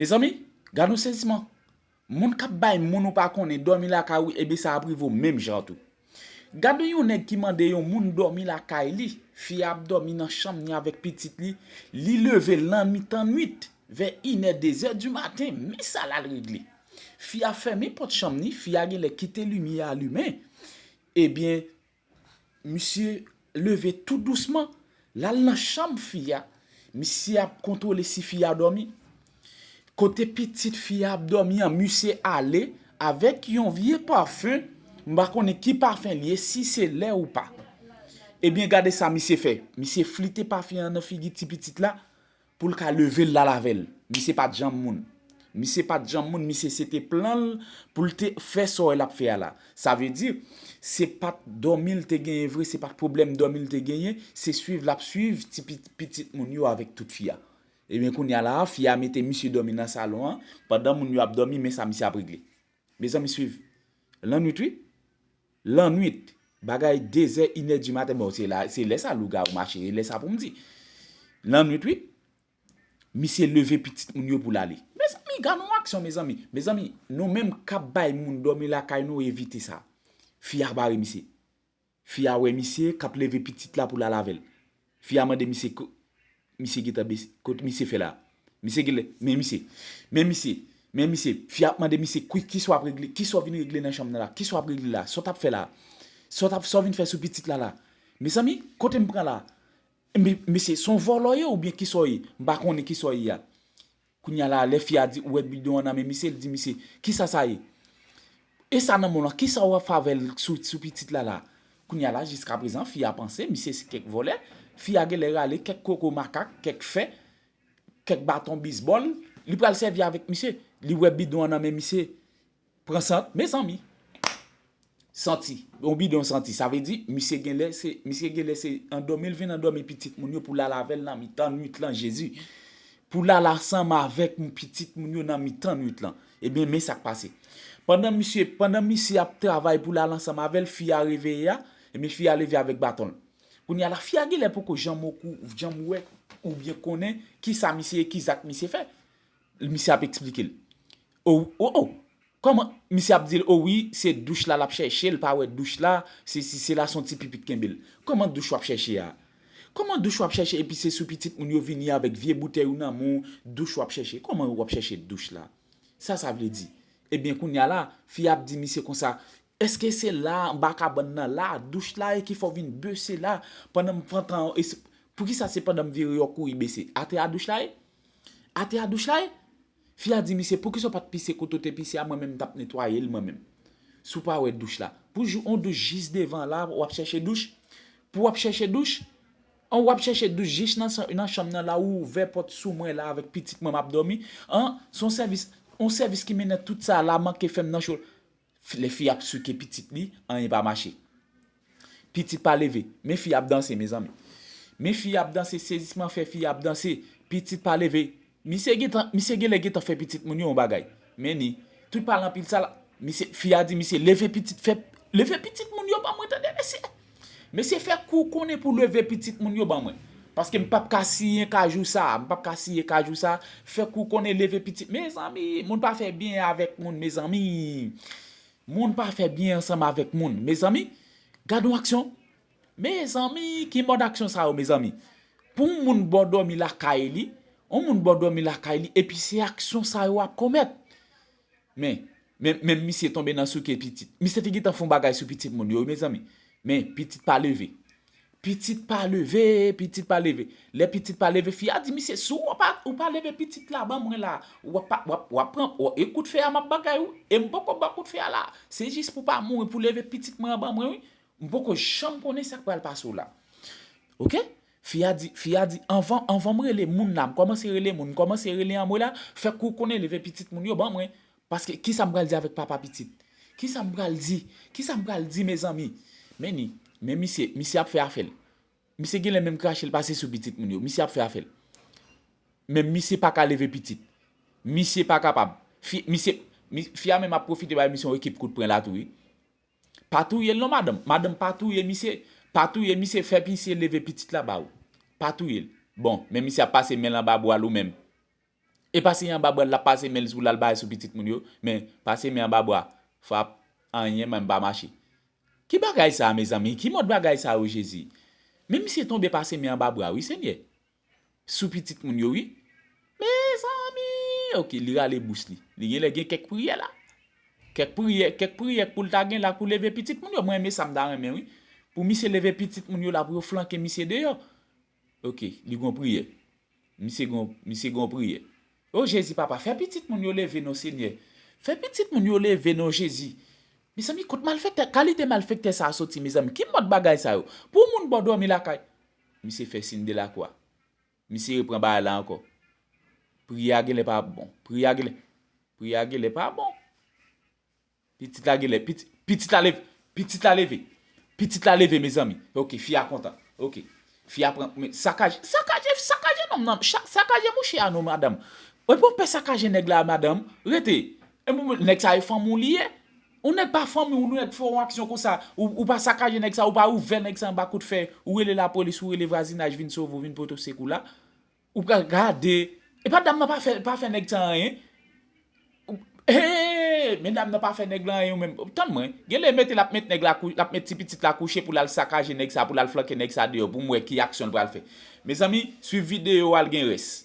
Mezanmi! Gad yon seziman! Moun k ap bay moun ou pa konnen dòmi lakay ou ebyen sa ap rive w menm jan tou. Gad yon nèg ki mande yon moun dòmi lakay li, fi a ap dòmi nan chanm ni avèk pitit li, li leve lan mitan nwit, vè inè dezè di maten, men sa l al regle. Fi a fèmen pòt chanm ni, fi a genlè kite limyè a limen, ebyen Misye leve tou dousman, l al nan chanm fi a, misye ap kontwole si fi a dòmi. Kote pitit fi a ap dòmi an, misye ale avèk yon vye pafen, m pa konnen ki pafen li ye, si se lè ou pa. Ebyen gade sa misye fè, misye flite pafen an nan figi ti pitit la, Poul ka level lal avel. Misye pat janm moun. Misye pat janm moun misye se te plan l poul te fè sa w wè lap fè a la. Sa vle di se pat dòmi l te genyen vre se pat pwoblèm dòmi l te genyen se swiv lap swiv ti pitit moun yo avèk tout fi a. Ebyen kounya la a fi a mete misye dòmi nan salon an pandan moun yo ap dòmi men sa misye ap regle. Mezanmi swiv. Lannwit wi. Lannwit, bagay dezè inè di maten bon se la se lè sa lougawou mache e lè sa pou m di. Lannwit wi. Misye leve pitit moun yo pou l ale. Mezanmi gad yon aksyon mezanmi. Mezanmi nou menm k ap bay moun dòmi lakay nou evite sa. Fi a bare misye. Fi a wè misye k ap leve pitit la pou l al avè l. Fi a mande misye kot misye gentan bese, kot misye fè la. Misye genlè, men misye, men misye, men misye. Fi a ap mande misye kwi kisa w ap regle, kisa w vin regle nan chanm nan la, kisa w ap regle la, sa w t ap fè la, sa w t ap, sa w vin fè sou pitit la la. Mezanmi, kote m pran la? Mesye, se w vòlò ye oubyen kisa w ye? M pa konnen kisa w ye a. Kounya la lè fi a di ou wè bidon an nan men misye li di misye kisa sa ye e sa nan menw lan kisa ou ap fè avèl sou sou pitit la la kounya la jiska prezan fi a panse misye se kèk vòlè fi a genlè rale kèk koko makak kèk fè kèk baton bisbòl li pral sèvi avèk misye li wè bidon an nan men misye Pran sant mezanmi Santi Yon bidon santi sa vle di misye genlè se misye genlè se andòmil vin andòmi pitit moun yo pou lala avèl nan mitan nwit lan jezi pou lala ansanm avèk pitit moun yo nan mitan nwit lan ebyen men sak pase pandan misye pandan misye ap travay pou lala ansanm avèl fi a reveye a ebyen fi a leve avèk baton l kounya la fi a genlè poko janm okou janm wè oubyen konnen kisa misye ki zak misye fè Misye ap esplike l. Oh oh Kòman Misye ap di l o wi se douch la l ap chèche l pa wè douch la sesi sela son ti pipi k kenbe l Kòman douch w ap chèche a Kòman douch w ap chèche epi se sou pitit moun yo vini avèk vye boutèy ou nan men w douch w ap chèche Kòman w ap chèche douch la Sa sa vle di Ebyen kounya la fi a ap di misye konsa Èske se la a anba kabann nan la a douch la e ki fè w vin bese la pandan m pran tan an Poukisa se pandan m vire yo kouri bese atè a douch la ye Atè a douch la ye? Fi a di misye poukisa w pat pise kote w te pise a mwen menm m tap netwaye l mwen menm. Si w pa wè douch la. Pou jou on douch jis devan la wap chèche douch? Pou wap chèche douch? An wap chèche douch jis nan chanm nan la ou ouvè pòt sou mwen la avèk pitit mwen map dòmi? An son sèvis on sèvis ki mennen tout sa la manke fèm nan cho Lè fi ap souke pitit li anyen pa mache pitit pa leve men fi ap danse mezanmi men fi ap danse sezisman fè fi ap danse pitit pa leve misye gentan misye genlè gentan fè pitit moun yo yon bagay men ni tout pale anpil sal misye fi a di misye leve pitit fè leve pitit moun yo ban mwen tande mesye. Mesye fè kou w konnen pou leve pitit moun yo ban mwen. Paske m pap ka siyen kajou sa a, m pap ka siye kajou sa a, fè kou w konnen leve pitit, mezanmi, moun pa fè byen avèk moun mezanmi, moun pa fè byen ansanm avèk moun mezanmi, gad yon aksyon, mezanmi ki mòd aksyon sa yo mezanmi, pou yon moun ba w dòmi lakay li, yon moun ba w dòmi lakay li epi se aksyon sa yo wap komèt. Men, men, men misye tonbe nan souke pitit. Misye te gentan fon bagay sou pitit moun yo wi mezanmi. Men, pitit pa leve. Pitit pa leve, pitit pa leve. Lè pitit pa leve, fi a di misye, si ou pa, ou pa leve pitit la ban mwen la, ou ap pa, ou ap, ou ap pran, ou, e kout fè a m ap bagay ou, e m poko ba w kout fè a la. Se jis pou w pa mouri, pou w leve pitit mwen an ban mwen wi. M poko janm konnen sa k pral pase w la. Ok? Fi a di, fi a di, anvan, anvan m rele moun la, m kòmanse rele moun, m kòmanse rele anmwe la, fè kou w konnen leve pitit moun yo ban mwen. Paske, ki sa m pral di avèk papa pitit? Ki sa m pral di? Ki sa m pral di mezanmi? Men ni, men misye, misye ap fè afè l. Misye gen lè menm krache l pase sou pitit moun yo. Misye ap fè afè l. Men misye pa ka leve pitit. Misye pa kapab. Fi, misye, mi, fi a menm ap pwofite bay misye yon ekip kout pren la tou wi. Pa touyel non madanm, madanm pa touye misye, pa touye misye fè misye leve pitit la ba ou. Pa touyel. Bon, men misye ap pase menl anba bwal ou menm. Epa se anba bwal lap pase menl pou lal bay sou pitit moun yo, men pase men anba bwa, frap, anyen menm pa mache. Ki bagay sa mezanmi, ki mòd bagay sa yo Jezi. Men misye tonbe pase men anba bwa wi Senyè. sou pitit moun yo wi mezanmi ok li rale bouch li li genlè gen kèk priyè la kèk priyè kèk priyè poul ta genla pou leve pitit moun yo mwen renmen sa mta renmen wi pou misye leve pitit moun yo la pou yo flanke misye deyò ok li gon priyè misye gon misye gon priyè o jezi papa fè pitit moun yo leve non senyè fè pitit moun yo leve non jezi mezanmi kot malfektè kalite malfektè sa soti mezanmi ki mòd bagay sa yo pou moun bò dòmi lakay Misye fè sin delakwa. Misye repran bagay la ankò. Pri a genlè pa ap bon. Pri a genlè. Pri a genlè pa bon. Pitit la genlè. Pitit la leve. Pitit la leve. Pitit la leve mezanmi. Ok fi a kontan. Ok. Fi a pran. Men sakaje. Sakaje. Sakaje nonm nan. Sakaje mouche a non madanm. Epi w ap pè sakaje nèg la madanm. Rete. Epi w ap. Nèg sa e fanm ou li ye. Ou nèg pa fanmi w nèg fè yon aksyon konsa ou pa sakaje nèg sa ou pa ouvè nèg sa anba kout fè ou rele lapolis ou rele vwazinaj vin sove w vin pote w sekou la ou pral gade epa dam nan pa fè nèg sa anyen eeee men dam nan pa fè nèg la anyen ou menm tann mwen genlè mete lap met nèg la lap met ti pitit la kouche pou lal sakaje nèg sa pou lal flanke nèg sa deyò pou m wè ki aksyon l pral fè mezanmi swiv videyo a l gen rès.